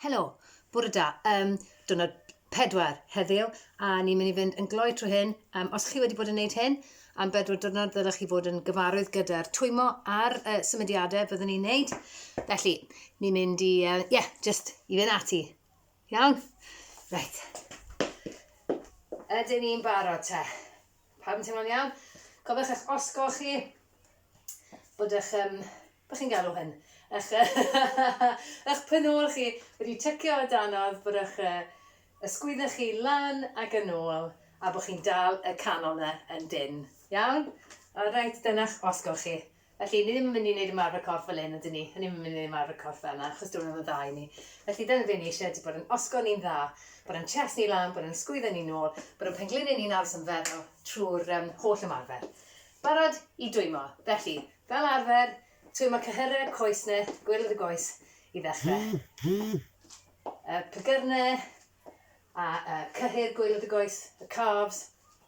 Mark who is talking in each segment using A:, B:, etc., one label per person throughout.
A: Helo, bore da. Um, diwrnod pedwar heddiw, a ni'n mynd i fynd yn gloi trwy hyn. Um, os chi wedi bod yn gwneud hyn, am bedwar diwrnod ddylech chi fod yn gyfarwydd gyda'r twymo a'r uh, symudiadau byddwn ni'n gwneud. Felly, ni'n mynd i, ie, uh, yeah, just i fynd ati. Iawn? Reit. Ydyn ni'n barod te? Pawb yn teimlo'n iawn? Cofiwch eich osgo chi, bod eich, um, bod chi'n galw hyn, eich, eich penol chi wedi tycio o danodd, bod eich uh, ysgwydda chi lan ac yn ôl, a bod chi'n dal y canol na yn dyn. Iawn? Alright, dyna'ch osgo chi. Felly, ni ddim yn mynd i wneud ymarfer corff fel hyn, ydyn ni? Ni ddim yn mynd i wneud ymarfer corff fel yna, achos diwrnod yn dda i ni. Felly, dyna be ni eisiau ydy bod yn osgol ni'n dda, bod yn chest ni lan, bod yn sgwyddo ni nôl, bod yn pengliniau ni'n aros yn feddal trwy'r um, holl ymarfer. Barod i dwymo. Felly, fel arfer, twymo cyhyrau, coes ne, gwyrdd y goes i ddechrau. Y pygyrne, a uh, cyhyr gwylod y goes, y calves,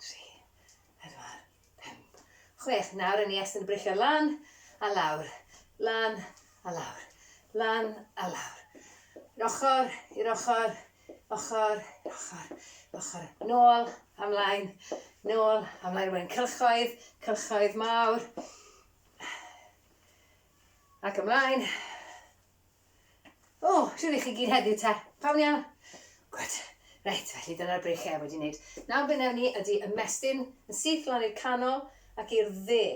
A: Tri, pedwar, pump, chwech. Nawr yn ni estyn y breichiau lan a lawr, lan a lawr, lan a lawr. I'r ochr, i'r ochr, ochr, i'r ochr, ochr. Nôl, amlaen, nôl, amlaen. Rwy'n cylchoedd, cylchoedd mawr. Ac ymlaen. O, oh, siwr i chi gyd heddiw te. Pawn iawn? Gwyd. Reit, felly dyna'r breichiau wedi wneud. Nawr beth newn ni ydy ymestyn yn syth lan i'r canol ac i'r dde.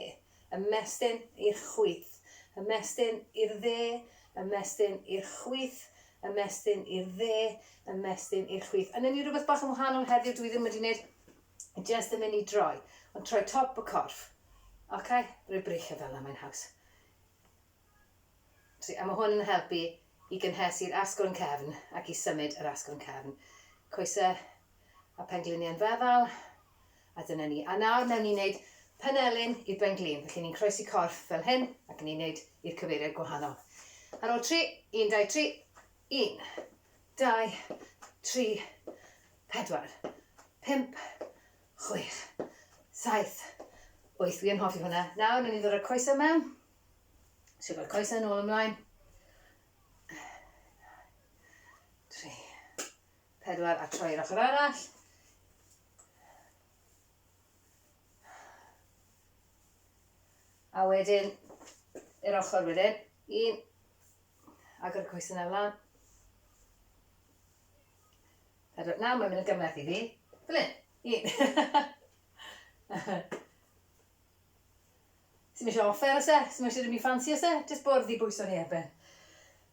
A: Ymestyn i'r chwith. Ymestyn i'r dde. Ymestyn i'r chwith. Ymestyn i'r dde. Ymestyn i'r chwith. Yn ni rhywbeth bach yn wahanol heddiw dwi ddim wedi wneud. Just yn mynd i droi. Ond troi top y corff. Oce? Okay? Rwy'n breichio fel yna mae'n haws. A mae hwn yn helpu i gynhesu'r asgwrn cefn ac i symud yr asgwrn cefn. Coesau a phengliniau'n feddal, a dyna ni. A nawr mewn ni'n wneud panelyn i'r benglin, felly ni'n croesi corff fel hyn ac ni'n wneud i'r cyfeiriad gwahanol. Ar ôl tri, un, dau, tri, un, dau, tri, pedwar, pump, chwech, saith, wyth. Wi yn hoffi hwnna. Nawr, ni'n ddod â'r coesau mewn. Siwgr coesau nôl ymlaen. Tri, pedwar a troi i'r ochr arall. A wedyn, i'r ochr wedyn, un, agor y coesau na flan. Pedwar, nawr mae'n mynd yn gymleth i fi. Fel un, un. Sdim eisiau offer oes e? Sdim eisiau dim byd ffansi oes e? Jyst bwrdd i bwyso ni erbyn.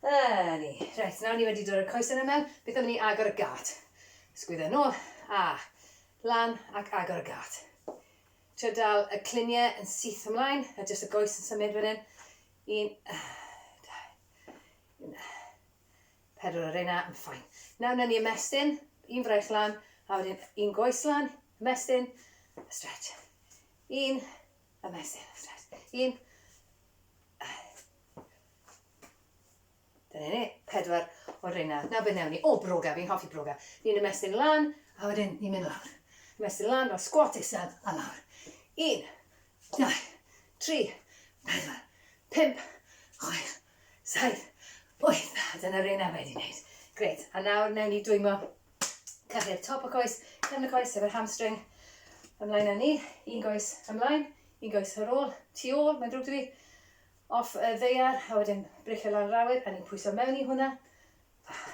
A: Yy ni. Reit, nawr ni wedi dod o'r coesau na mewn, beth am i ni agor y gât? Sgwydda nôl, a lan ac agor y gât. Trio dal y cluniau yn syth ymlaen, a jyst y goes yn symud fan hyn. Un, dau, un, pedwar o reina, yn ffain. Nawr na ni ymestyn, un fraich lan, a wedyn un goes lan, Ymestyn, a stretch. Un, ymestyn, a stretch. Un. Dyna ni, pedwar o'r reina. Nawr beth newn ni? O, broga, fi'n hoffi broga. Ni'n ymestyn lan, a wedyn ni'n mynd lawr. Ymestyn lan fel squat isel, a lawr. Un, dau, tri, pedwar, pimp, chwech, saith, wyth. Dyna reina wedi wneud. Gret, a nawr newn ni dwymo Cyrru'r top y coes, cefn y coes efo'r hamstring. Ymlaen â ni, un goes ymlaen, un goes ar ôl, tu ôl, mae'n drwg dwi. Off y ddeiar, a wedyn bricio lawr yr awyr, a ni'n pwyso mewn i hwnna. Ah,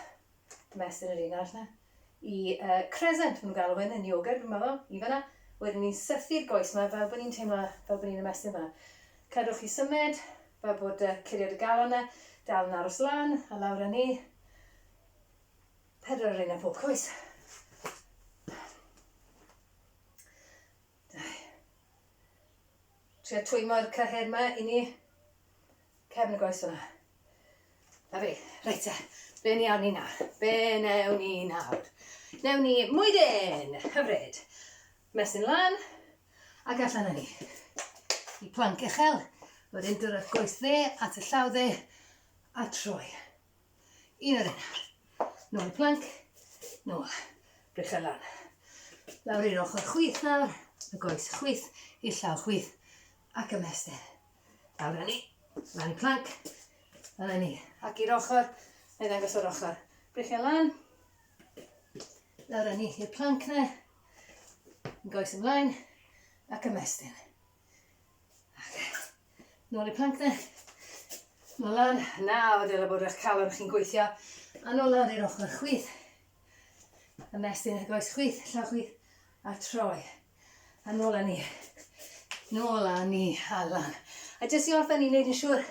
A: Ymestyn yr un arall na. I uh, crescent, maen nhw'n galw hyn yn yoga, dwi'n meddwl, i fanna. Wedyn ni'n sythu'r goes yma fel bod ni'n teimlo fel bod ni'n ymestyn fanna. Cadwch chi symud, fel bod uh, curiad y galon yna, dal yn aros lan, a lawr â ni, Pedwar ar un ar pob coes. Trio twymo'r cyhyr yma i ni. Cefn y goes yna. Na fi. Reit e. Be ni awn ni nawr? Be newn ni nawr? Newn ni mwydyn! Hyfryd. Mesyn lan. Ac allan â ni. I planc uchel. Wedyn dwrwch goes dde at y llaw dde. A troi. Un ar un. Nôl i plank. Nôl. Brechel lan. Lawr i'r ochr chwith nawr. Y goes chwith i'r llaw chwith. Ac ymestyn. Lawr â ni. Lan i plank. Lan â ni. Ac i'r ochr. Neu ddangos o'r ochr. Brechel lan. Lawr â ni i'r plank na. Yn goes ymlaen. Ac ymestyn. Nôl i plank then. Nôl lan. Nawr dyle bod eich calon chi'n gweithio. A nôl lan i'r ochr chwith. Ymestyn eich goes chwith, llaw chwith. A troi. A nôl â ni. Nôl â ni. A lan. A jyst i orffen i wneud yn siŵr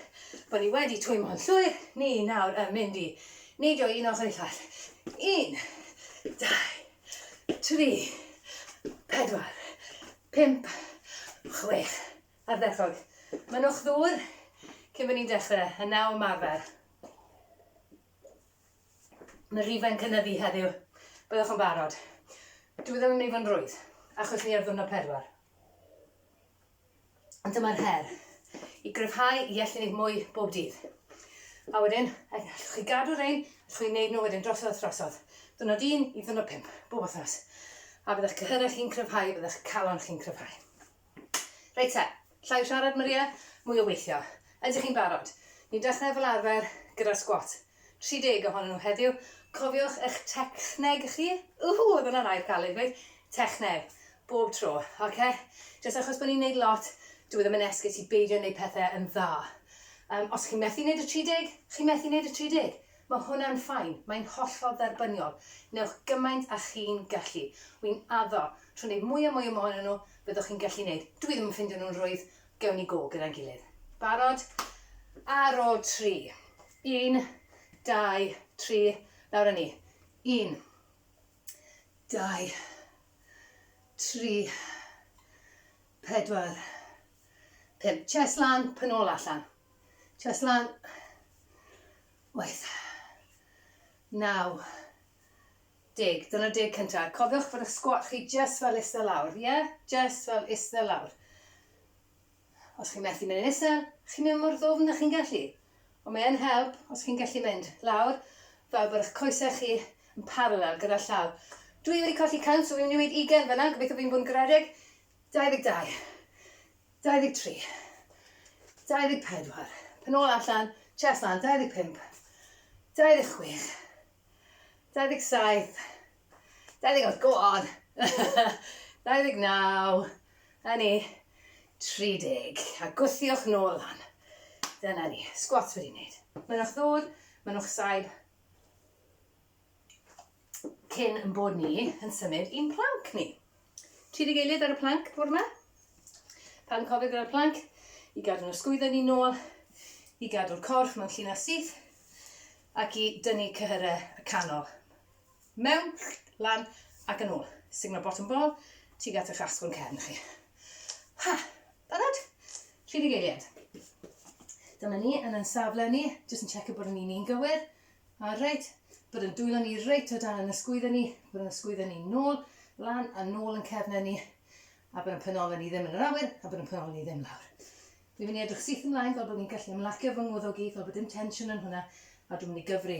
A: bod ni wedi twymo'n llwyr. Ni nawr yn mynd i neidio un ochr i llall. Un, dau, tri, pedwar, Pump, chwech, ardderchog. Mynnwch ddŵr cyn bod ni'n dechrau, a naw ymarfer. Mae rhifau'n cynyddu heddiw, byddwch yn barod. Dwi ddim yn mynd i fod yn rwydd, achos ni ar ddwrnod pedwar. Ond dyma'r her, i gryfhau i allu gwneud mwy bob dydd. A wedyn, allwch chi gadw rhain Chi'n gwneud nhw wedyn drosodd a throsodd, ddiwrnod un i ddiwrnod pump, bob wythnos. A bydda'ch cyhyrau chi'n cryfhau, bydda'ch calon chi'n cryfhau. Reit te, llai o siarad Maria, mwy o weithio. Ydych chi'n barod? Ni'n dechrau fel arfer gyda'r sgwat. 30 ohonyn nhw heddiw. Cofiwch eich techneg chi. Whoo, oedd hwnna'n air caled i ddweud. Techneg. Bob tro, oce? Jyst achos bod ni'n neud lot, dyw e ddim yn esgus i beidio neud pethe yn dda. Yym, os chi'n methu neud y 30, chi'n methu neud y 30. Ma' hwnna'n fine, mae'n hollol dderbyniol. Newch gymaint â chi'n gallu. Wi'n addo, trwy neud mwy a mwy o mohonyn nhw, byddwch chi'n gallu neud. Dw i ddim yn ffindio nhw'n rwydd, gewn ni go gyda'n gilydd. Barod? Ar ôl tri. Un, dau, tri, lawr â ni. Un. dau, tri, pedwar, pump. Chest lan, pen ôl allan. Chest lan, waith, naw, deg. Dyna deg cyntaf. Cofiwch fod y sgwat chi just fel eistedd lawr, ie? Yeah? Just fel eistedd lawr. Os chi'n methu mynd yn isel, chi'n mynd mor ddwfn â chi'n gallu. Ond mae yn help os chi'n gallu mynd lawr fel bod eich coesau chi yn parallel gyda'r llawr. Dwi wedi colli cant, so fi'n mynd i weud ugain fanna, gobeithio fi'n bod yn garedig. 22. 23. 24. Pen ôl allan, chest lan, 25. 26. 27. 28, go on! 29, a ni, 30, a gwthiwch nôl lan. Dyna ni, squats wedi wneud. Mynnwch ddŵr, mynnwch saib. Cyn yn bod ni yn symud i'n planc ni. Tri dy gilydd ar y planc, bwrw yma. Pan cofio gyda'r planc, i gadw nhw sgwyddo ni nôl, i gadw'r corff mewn llinell syth, ac i dynnu cyhyrau y canol. Mewn, lan, ac yn ôl. Signo bottom ball, tuag at eich asgwrn cefn chi. Ha! Barod? Tri deg eiliad. Dyma ni yn yn safle ni, jyst yn checio bod yn un un gywir. A reit, bod yn dwylo ni reit o dan yn ysgwyddo ni, bod yn ysgwyddo ni nôl, lan a nôl yn cefnau ni, a bod yn penol ni ddim yn yr awyr, a bod yn penol ni ddim lawr. Dwi'n mynd i edrych syth ymlaen fel bod ni'n gallu ymlacio fy ngwddog i, fel bod dim tensiwn yn hwnna, a dwi'n mynd i gyfri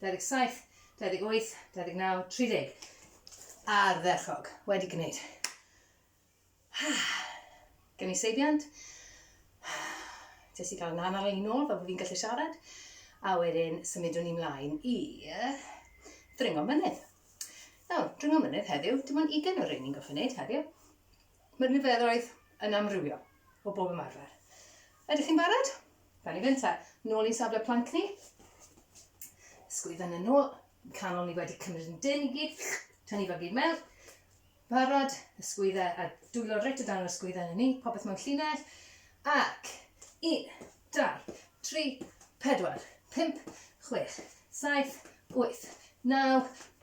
A: 27, 28, 29, 30. Ardderchog, wedi gwneud. Gen i seibiant. Jyst i gael yn anal i nôl fel bod fi'n gallu siarad. A wedyn symudwn ni mlaen i ddringo mynydd. Nawr, dringo mynydd heddiw, dim ond ugen o'r ein ni'n goffi wneud heddiw. Mae'r niferoedd yn amrywio o bob ymarfer. Ydych chi'n barod? Gawn ni fynd te. Nôl i'n safle planc ni. Sgwyd yn y nôl. Canol ni wedi cymryd yn dyn i gyd. Tynnu fel gyd mewn. Barod, y sgwyddau, a dwylo reit o dan yr sgwyddau yn y ni, popeth mewn llinell. Ac, un, dau, tri, pedwar, pump, chwech, saith, wyth, naw,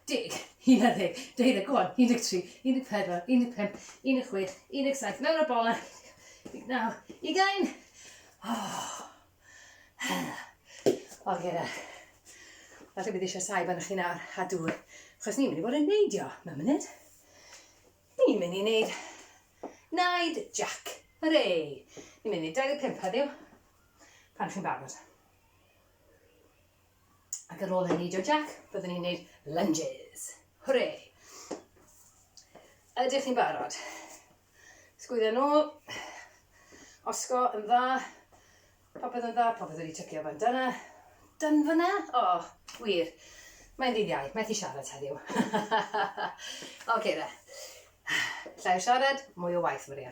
A: Deg, unarddeg, deuddeg, go on, 13, 14, 15, 16, 17, mewn o'r bolau, 19, ugain! Oh. O, gyda. Falle bydd eisiau saib arnoch chi nawr, a dŵr, achos ni'n mynd i fod yn neidio, mae'n mynd. Ni'n mynd i wneud naid jac, hyrre! Ni'n mynd i 25 heddiw, pan chi'n barod. Ac ar ôl hynny, dio jac, byddwn ni'n neud lunges. Hwre! Ydych chi'n barod? Sgwydda nôl. Osgo yn dda. Popeth yn dda, popeth wedi tycio fan dyna. Dyn fyna? O, oh, wir. Mae'n ddydd iau, methu siarad heddiw. Oce okay, da. Llai o siarad, mwy o waith, Maria.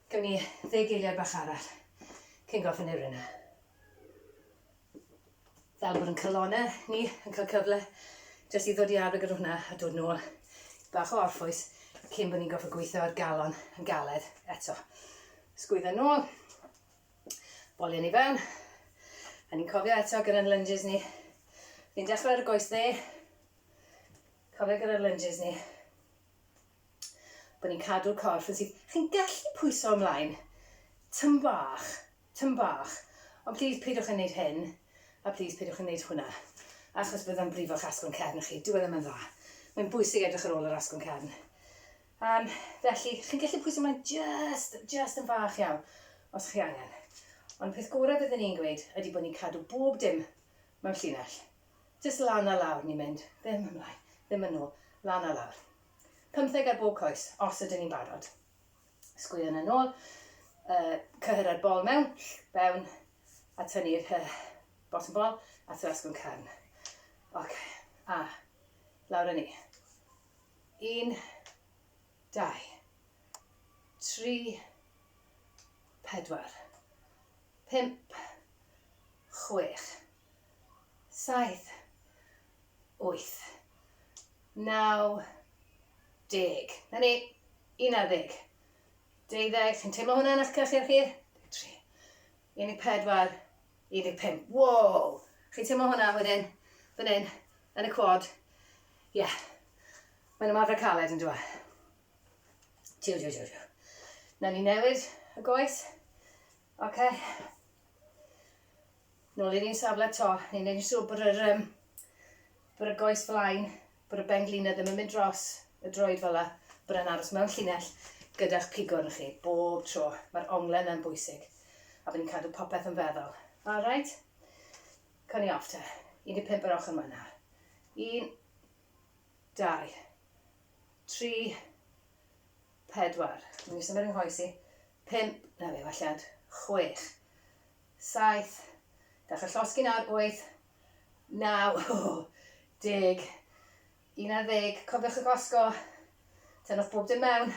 A: Gawn ni ddeg geiriad bach arall cyn gorffen efo'r un 'na. Fel bod yn calonau ni yn cael cyfle jyst i ddod i arfer gyda hwnna a dod nôl i bach o orffwys cyn bod ni'n gorfod gweithio ar galon yn galed eto. Sgwydda nôl, bolio ni fewn, a ni'n cofio eto gyda'n lunges ni. Ni'n dechrau ar y goes dde, cofio gyda'r lunges ni, bod ni'n cadw'r corff yn syth. Chi'n gallu pwyso ymlaen, tym bach, tym bach, ond plîs peidiwch â wneud hyn, a plîs peidiwch â wneud hwnna, achos bydda'n brifo'ch asgwrn cefn chi. Dyw e ddim yn dda. Mae'n bwysig edrych ar ôl yr asgwrn cefn. Um, felly, chi'n gallu pwyso ymlaen just, just yn fach iawn, os chi angen. Ond peth gorau byddwn i'n gweud ydy bod ni'n cadw bob dim mewn llinell. Jyst lan a lawr ni'n mynd. Ddim ymlaen, ddim yn ôl. Lan a lawr. Pymtheg ar bob coes, os ydyn ni'n barod. Sgwyon yn ôl, yy, cyhyr ar bol mewn, fewn, a tynnu'r hy, bottom bol, a thrwy asgwrn cefn. Ok, a, lawr a ni. Un, dau, tri, pedwar, pump, chwech, saith, wyth, naw, deg. Na ni, un ar ddeg. Deuddeg, sy'n teimlo hwnna yn eich cyrchir chi? Deg tri. Un i pedwar, un i pum. Wow! Chi'n teimlo hwnna wedyn, fan hyn, yn y quad. Ie. Yeah. Mae'n ymarfer caled yn dweud. Tiw, tiw, tiw, tiw. Na ni newid y goes. Oce. Okay. Nôl i'r un safle eto, ni'n neud yn siŵr bod yr um, bod y goes flaen, bod y ben glina ddim yn mynd dros y droed fel la, bod e'n aros mewn llinell gyda'ch pigwrn chi bob tro. Mae'r onglau yna'n bwysig a bod ni'n cadw popeth yn feddwl. All right? Cawn ni off te. 15 yr ochr yma. 1, 2, 3, 4. Mae'n i symud yng nghoes i. 5, na fe, welliant. 6. Saith. Gall y llosgi'n awr wyth, naw, deg, un ar ddeg. Cofiwch y glasgo. Tynnwch bob dim mewn.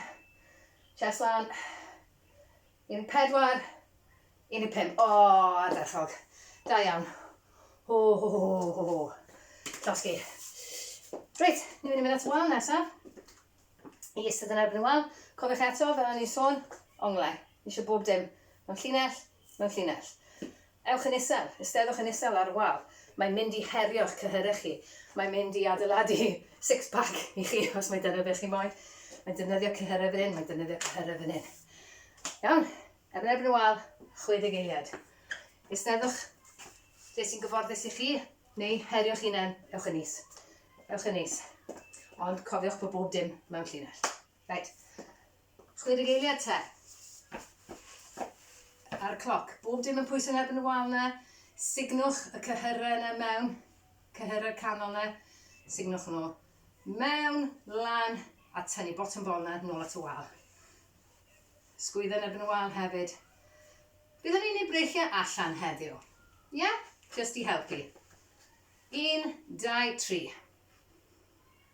A: Chest lan. Un i pedwar. Un i pump. O, ardderchog. Da iawn. Ho, ho, ho, ho, ho, ho. Llosgi. Reit, ni'n mynd i mynd at y wal nesaf. I ystod yn erbyn y wal. Cofiwch eto, fel o'n i'n sôn, onglau. Ni eisiau bob dim. Mae'n llinell, Mewn llinell. Ewch yn isel. Eisteddwch yn isel ar y wal. Mae'n mynd i herio'ch cyhyrau chi. Mae'n mynd i adeiladu six pack i chi os mae dyna be chi moyn. Mae'n defnyddio cyhyrau fan hyn, mae'n defnyddio cyhyrau fan hyn. Iawn? Ar yn erbyn y wal, 60 eiliad. Eisteddwch lle sy'n gyfforddus i chi, neu herio'ch hunain, ewch yn is. Ewch yn is. Ond cofiwch bod bob dim mewn llinell. Reit. Chwedeg eiliad te. Ar y cloc. Bob dim yn pwysau erbyn y wal na. Signwch y cyhyrau yna mewn. Cyhyrau canol na. Signwch nhw. Mewn, lan, a tynnu bottom bol na, nôl at y wal. Sgwydda yn erbyn y wal hefyd. Byddwn ni'n ei breichiau allan heddiw. Ie? Yeah? Just i helpu. Un, dau, tri.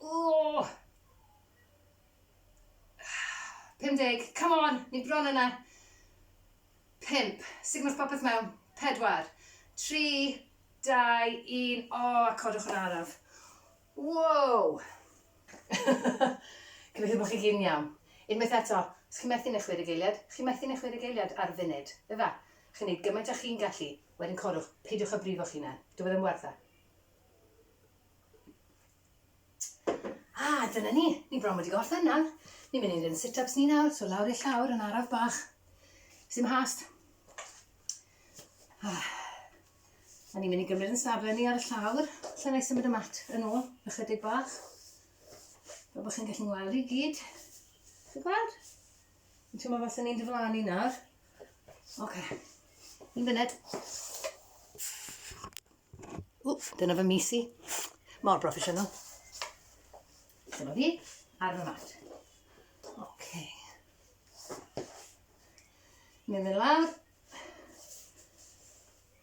A: Oh! 50, come on, ni bron yna. 5, sut mae'r popeth mewn? 4, 3, 2, 1, o, a codwch yn araf. Wow! Gobeithio bod chi gyd yn iawn. Unwaith eto, os chi'n methu neu chwer y geiliad, chi'n methu neu chwer y geiliad ar funud. Efa, chi'n neud gymaint a chi'n gallu, wedyn codwch, peidiwch a brifo chi'n hunan. Dyw e ddim werth e. A, ah, dyna ni. Ni bron wedi gorffen nawr. Ni'n mynd i wneud yn sit-ups ni nawr, so lawr i'r llawr yn araf bach. Sim hast. Ah. A ni'n mynd i gymryd yn safle ni ar y llawr. Lle na i symud y mat yn ôl, ychydig bach. Fe bod chi'n gallu ngweld i gyd. Chi'n gweld? Yn teimlo fel sy'n ni'n diflannu nawr. Oce. Okay. Un funud. Wff, dyna fy mis i. Mor broffesiynol. Dyna fi, ar fy mat. Oce. Okay. Ni'n mynd lawr.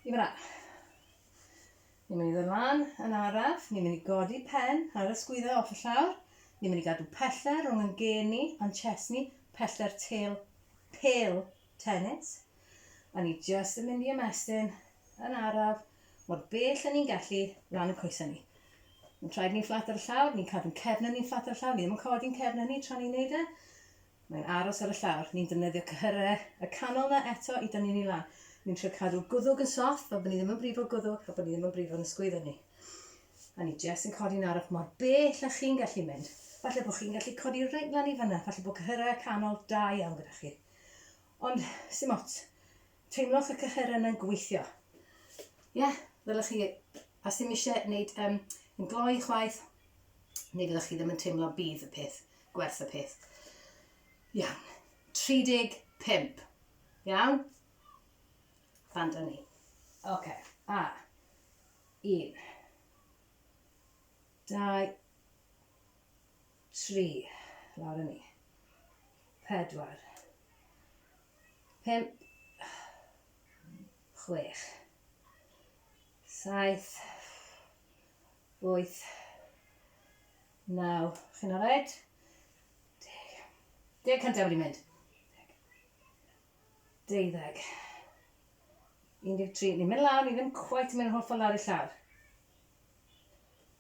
A: I fyna. Ni'n mynd i ddod lan yn araf. Ni'n mynd i godi pen ar y sgwydda off y llawr. Ni'n mynd i gadw pellter rhwng yn gen ni a'n chest ni, pellter tel, pel Tenets, o'n i jyst yn mynd i ymestyn yn araf mor bell o'n i'n gallu lan y coesau ni. Mae'n traed ni'n fflat ar y llawr, ni'n cadw'n cefnau ni'n fflat ar y llawr, ni ddim yn codi'n cefnau ni tra ni'n neud e. Mae'n aros ar y llawr, ni'n defnyddio cyhyrau y canol na eto i dynnu ni lan. Ni'n trio cadw'r gwddwg yn soft fel bod ni ddim yn brifo gwddwg a bod ni ddim yn brifo yn ysgwyddo ni. A ni jyst yn codi'n araf mor bell a chi'n gallu mynd. Falle bod chi'n gallu codi reit lan i fyna, falle bod cyhyrau y canol da iawn gyda chi. Ond, sim ots. Teimlwch y cycheren yna'n gweithio. Ie, yeah, ddylech chi, os ddim eisiau gwneud um, yn gloi chwaith, neu fyddwch chi ddim yn teimlo bydd y peth, gwerth y peth. Iawn, 35. Iawn? Fan dyn ni. Oce, okay. a, un, dau, Tri. Lawr â ni. Pedwar. Pump. Chwech. Saith. Wyth. Naw. Chi'n alright? Deg. Deg cyntaf wedi mynd. Deuddeg. 13. Ni'n mynd lawr, ni ddim cwait yn mynd yn hollffordd lawr i llawr.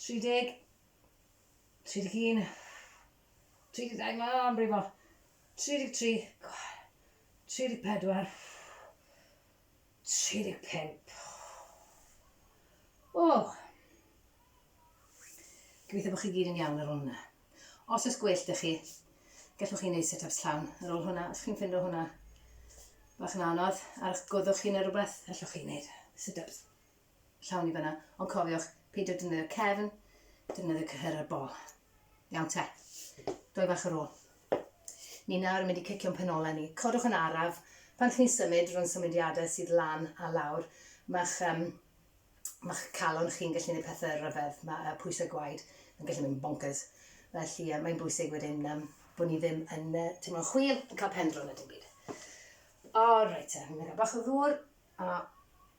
A: 30, 31, 32, ma, am brifo, 33, 34, 35. O! Gobeithio bod chi gyd yn iawn ar ôl hwnna. Os oes gwell dych chi, gallwch chi wneud set-ups llawn ar ôl hwnna. Os chi'n ffindo hwnna bach yn anodd, ar eich gwddwch chi neu rhywbeth, allwch chi wneud sit-ups llawn i fyna. Ond cofiwch, peidio defnyddio cefn, defnyddio cyhyrau'r bol. Iawn te. Doi fach ar ôl. Ni nawr yn mynd i cicio'n penolau ni. Codwch yn araf. Pan chi'n symud rhwng symudiadau sydd lan a lawr, mae'ch um, mae'ch calon chi'n gallu gwneud pethau rhyfedd. Mae uh, pwysau gwaed yn gallu mynd bonkers. Felly uh, mae'n bwysig wedyn um, bod ni ddim yn uh, teimlo'n chwil, yn cael pendro na dim byd. O, reit, uh, fi'n mynd bach o ddŵr. A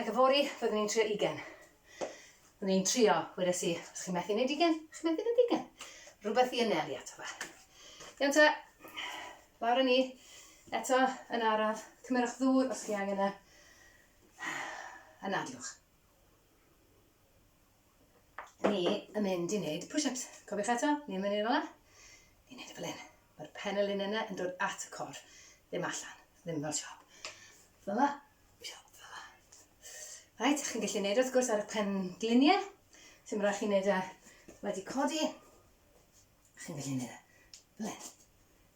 A: Ac yfory, fyddwn i'n trio ugen. Fyddwn i'n trio, wedes i, os chi'n methu wneud ugen, chi'n methu wneud ugen. Rhywbeth i anelu ato fe. Iawn ta, lawr â ni, eto yn araf, cymerwch ddŵr os chi angen e, a nadlwch. ni yn mynd i wneud push-ups. Cofiwch eto, ni yn mynd i'r ola. Ni wneud y fel hyn. Mae'r pen y lun yna yn dod at y cor, ddim allan, ddim fel siop. Fel yma, siop fel yma. Rhaid, chi'n gallu wneud wrth gwrs ar y pen gliniau. Sy'n rhaid chi'n wneud e wedi codi. Chi'n gallu wneud e fel hyn.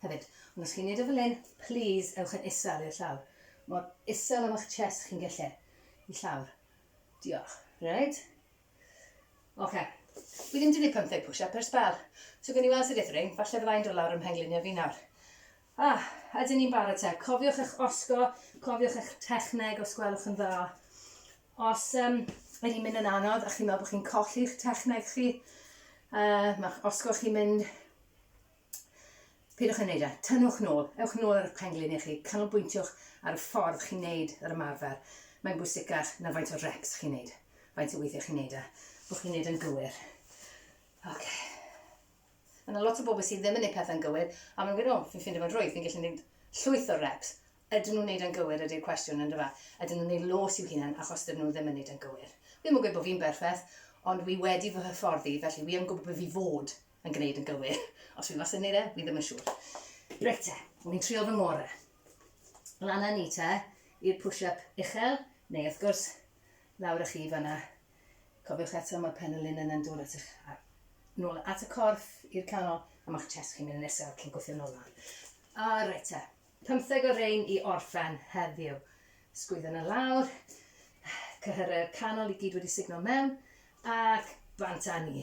A: Hefyd, ond os chi'n wneud e fel hyn, please ewch yn isel i'r llawr. Mor isel am eich chest chi'n gallu i llawr. Diolch. Reit. Oce. Fi ddim wedi gwneud 15 push-up ers sbel. So gen i weld sut ethring, falle fyddai'n dod lawr ym mhengliniau fi nawr. Ah, ydyn ni'n barod te. Cofiwch eich osgo, cofiwch eich techneg os gwelwch yn dda. Os um, mae hi'n mynd yn anodd a chi'n meddwl bod chi'n colli'ch techneg chi, uh, mae osgo chi'n mynd Peidiwch â wneud e. Tynnwch nôl. Ewch nôl ar eich pen-glin chi. Canolbwyntiwch ar y ffordd chi'n wneud yr ymarfer. Mae'n bwysicach na faint o reps chi'n wneud, faint o weithiau chi'n wneud e, bod chi'n wneud e'n gywir. Ok. Mae yna lot o bobl sydd ddim yn gwneud pethau'n gywir, a mae'n gwneud, o, fi'n ffindio fo'n rhwydd, fi'n gallu gwneud llwyth o reps. Ydyn nhw'n wneud e'n gywir ydy'r cwestiwn, yn dyfa? Ydyn nhw'n gwneud los i'w hunain achos dydyn nhw ddim yn wneud e'n gywir? Wi ddim yn gweud bod fi'n berffaith, ond wi wedi fy hyfforddi, felly wi yn gwybod beth fi fod yn gwneud yn gywir. Os fi wastad yn gwneud e, fi ddim yn siŵr. Reit te, fi'n trio fy ngore. Lan â ni te, i'r push-up uchel, neu wrth gwrs, lawr â chi fanna. Cofiwch eto, mae'r pen y lun yn dod at eich nôl at y corff i'r canol, a mae'ch chest chi'n mynd yn isel cyn gweithio nôl lawr. A reit te, pymtheg o rein i orffen heddiw. Sgwyddo yn y lawr, cyhyrau'r canol i gyd wedi signo mewn, ac bant â ni.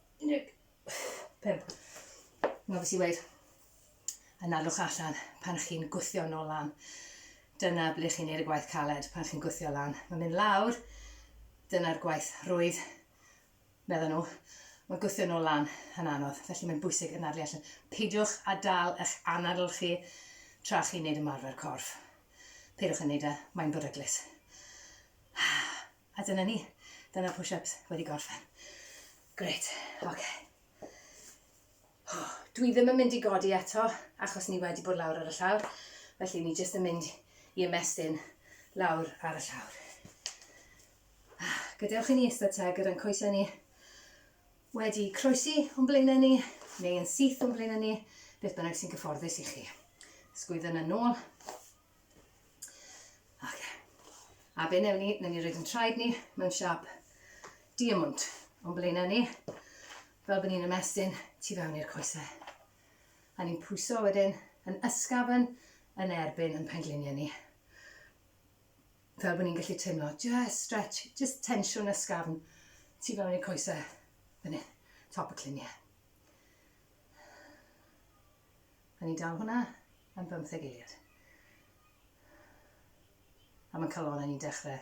A: 15. Mae fes i weid, yn alwch allan pan chi'n gwthio nôl lan. Dyna ble chi'n neud y gwaith caled pan chi'n gwthio lan. Mae'n mynd lawr, dyna'r gwaith rwydd, meddyn nhw. Mae gwthio nôl lan yn anodd, felly mae'n bwysig yn adlu allan. Peidiwch a dal eich anadl chi tra chi'n neud ymarfer corff. Peidiwch yn neud e, mae'n beryglus. A dyna ni, dyna'r push-ups wedi gorffen. Gret, oce. Dwi ddim yn mynd i godi eto, achos ni wedi bod lawr ar y llawr, felly ni jyst yn mynd i ymestyn lawr ar y llawr. Ah, gadewch i ni ystod te gyda'n coesau ni wedi croesi o'n blaenau ni, neu yn syth o'n blaenau ni, beth bynnag sy'n gyfforddus i chi. Sgwydden yn nôl, Ok. A be newn ni, newn ni roed yn traed ni mewn siap diamwnt o'n blaenau ni, fel bod ni'n ymestyn tu fewn i'r coesau. A ni'n pwyso wedyn yn ysgafn yn erbyn yn pengliniau ni. Fel bod ni'n gallu teimlo, just stretch, just tensiwn ysgafn tu fewn i'r coesau, fan hyn, top y cliniau. A ni'n dal hwnna am bymtheg eiliad. A mae'n calon a ni'n dechrau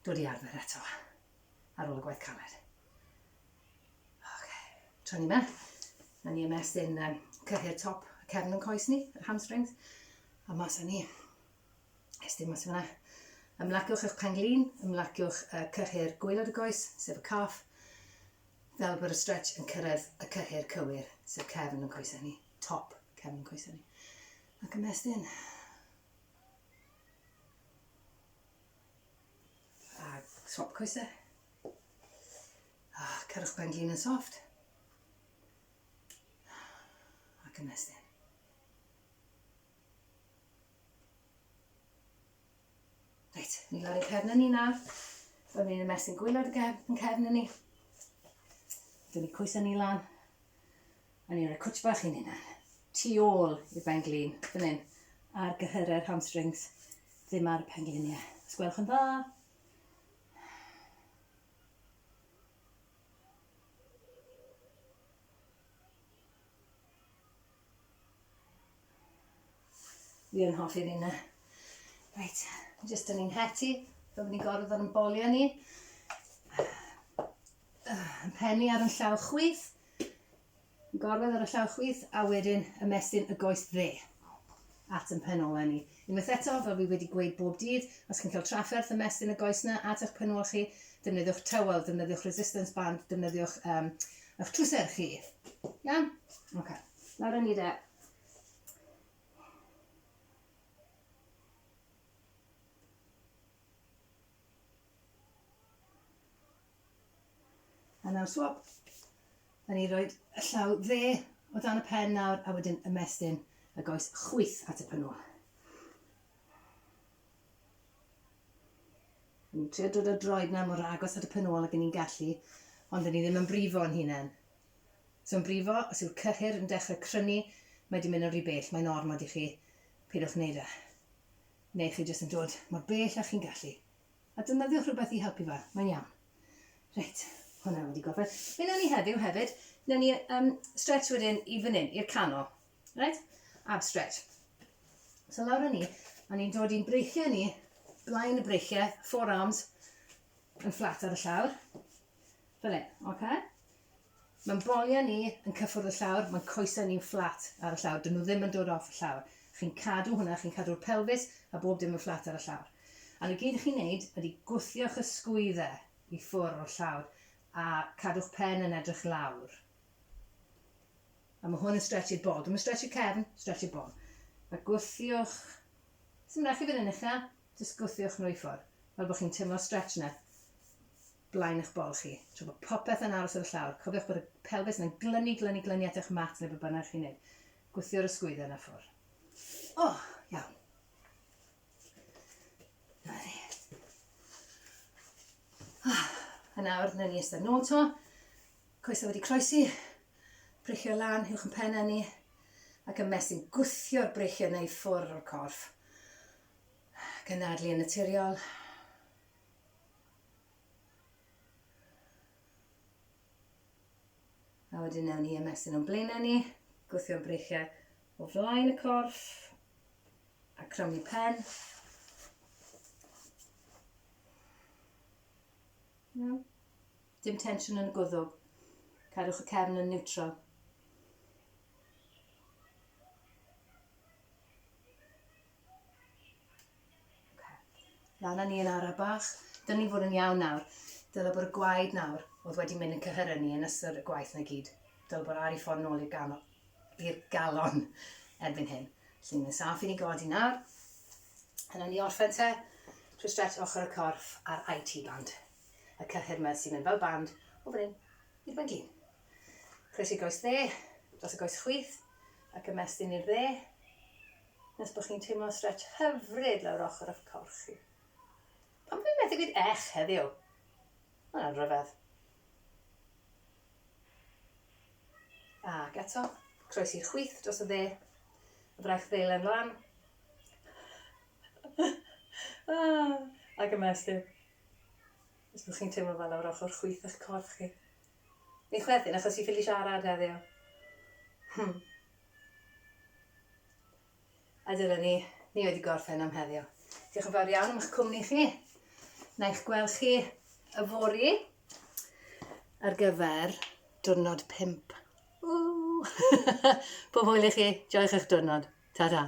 A: dod i arfer eto ar ôl y gwaith caled. Okay. Tra ni yma, na ni ymestyn um, cyhyr top y cefn yn coes ni, yr hamstrings, a mas a ni. Ges dim mas fyna. Ymlaciwch eich pen-glin, ymlaciwch y cyhyr gwaelod y goes, sef y calf, fel bod y stretch yn cyrraedd y cyhyr cywir, sef cefn yn coesau ni, top cefn yn coesau ni. Ac ymestyn. A swap coesau. A cyrwch pen-glin yn soft. Ac ymestyn. Reit, ni lawr yn cefn ni na. Rwy'n mynd i'n ymestyn gwylod y cefn, yn cefn ni. Dwi'n ni coesau ni lan. A ni'n rhoi cwtch bach i'n hunan. Tu ôl i'r ben glin, fan hyn. Ar gyhyrau'r hamstrings, ddim ar y pen gliniau. Os gwelwch yn dda. Fi yn hoffi fi na. Reit, jyst yn ni'n heti, fel ni'n gorfod yn bolio ni. Penni ar y llaw chwith, gorfod ar y llaw chwith, a wedyn ymestyn y goes dde at yn pen ola ni. Unwaith eto, fel fi wedi gweud bob dydd, os chi'n cael trafferth ymestyn y goes 'na at eich penwal chi, defnyddiwch tywel, defnyddiwch resistance band, defnyddiwch um, eich trwser chi. Iawn? Ok. Nawr yn ni de. A nawr swab. Da ni roed y llaw dde o dan y pen nawr a wedyn ymestyn y goes chwyth at y pynw. Ni'n trio dod o droed na mor agos at y pen ôl ag ni'n gallu, ond ni ddim yn brifo yn hunain. So yn brifo, os yw'r cyhyr yn dechrau crynu, mae di mynd yn rhy bell, mae'n ormod i chi, pidwch wneud e. Neu chi jyst yn dod mor bell â chi'n gallu, A defnyddiwch rhywbeth i helpu fo, mae'n iawn. Reit, hwnna wedi gorffen. Be newn ni heddiw hefyd, newn ni um, stretch wedyn i fan hyn, i'r canol. Right? Ab stretch. So lawr â ni, a ni'n dod i'n breichiau ni, blaen y breichiau, forearms yn fflat ar y llawr. Fel hyn, oce? Okay? Mae'n boliau ni yn cyffwrdd y llawr, mae'n coesau ni'n fflat ar y llawr, dyn nhw ddim yn dod off y llawr. Chi'n cadw hwnna, chi'n cadw'r pelfis a bob dim yn fflat ar y llawr. A'r y gyd chi'n wneud ydy gwthiwch y sgwyddau i ffwrdd o'r llawr a cadw'ch pen yn edrych lawr. A mae hwn yn stretch i'r bol. Dwi'm yn stretch i'r cefn, stretch i'r bol. A gwthiwch... Sdim rhaid chi fynd yn uchel, jyst gwthiwch nhw i ffwrdd. Fel bod chi'n teimlo'r stretch 'na. blaen eich bol chi, tra bod popeth yn aros ar y llawr, cofiwch bod y pelfis yna'n glynu, glynu, glynu at eich mat neu be bynnag chi'n neud. Gwthio'r ysgwydden a ffwr. O! Iawn. Na ni. Ah, yn awr, na ni ystod nôl to. Coesau wedi croesi, breichio lan, hiwch yn penna ni, ac yn mesyn gwthio'r breichio neu ffwr o'r corff. Gynadlu yn naturiol. A wedyn newn ni ymestyn o'n blaenau ni, gwthio'n breichiau o flaen y corff a crymu pen. Iawn. Dim tensiwn yn y gwddw. Cadwch y cefn yn niwtral. Lan â ni yn ara bach. Dylen ni fod yn iawn nawr. Dyle bod y gwaed nawr oedd wedi mynd yn cyhyrau ni yn ystod y gwaith na gyd. Dyle bod ar ei ffordd nôl i'r ganol, i'r galon erbyn hyn. Felly mae'n saff i ni godi nawr. A nawn ni orffen te trwy stretch ochr y corff a'r IT band. Y cyhyr yma sy'n mynd fel band o fan hyn i'r fan glin. Croesi'r goes dde, dros y goes chwith, ac ymestyn i'r dde. nes bod chi'n teimlo stretch hyfryd lawr ochr o'ch corff chi. Pam bod fi methu gweud ech heddiw? Mae hwnna'n rhyfedd. Ac eto, croes i chwith dros y dde, y braich ddeilen lan. ah, ac yma ystyn. Os byddwch chi'n teimlo fel awr ochr chwith eich corff chi. Ni chwerthin achos i ffili siarad heddiw. Hmm. A dyna ni, ni wedi gorffen am heddiw. Diolch yn fawr iawn am eich cwmni chi. Na eich gweld chi y fori ar gyfer diwrnod 5. Ww! Pob hwyl i chi, joiwch eich diwrnod. Ta-ra.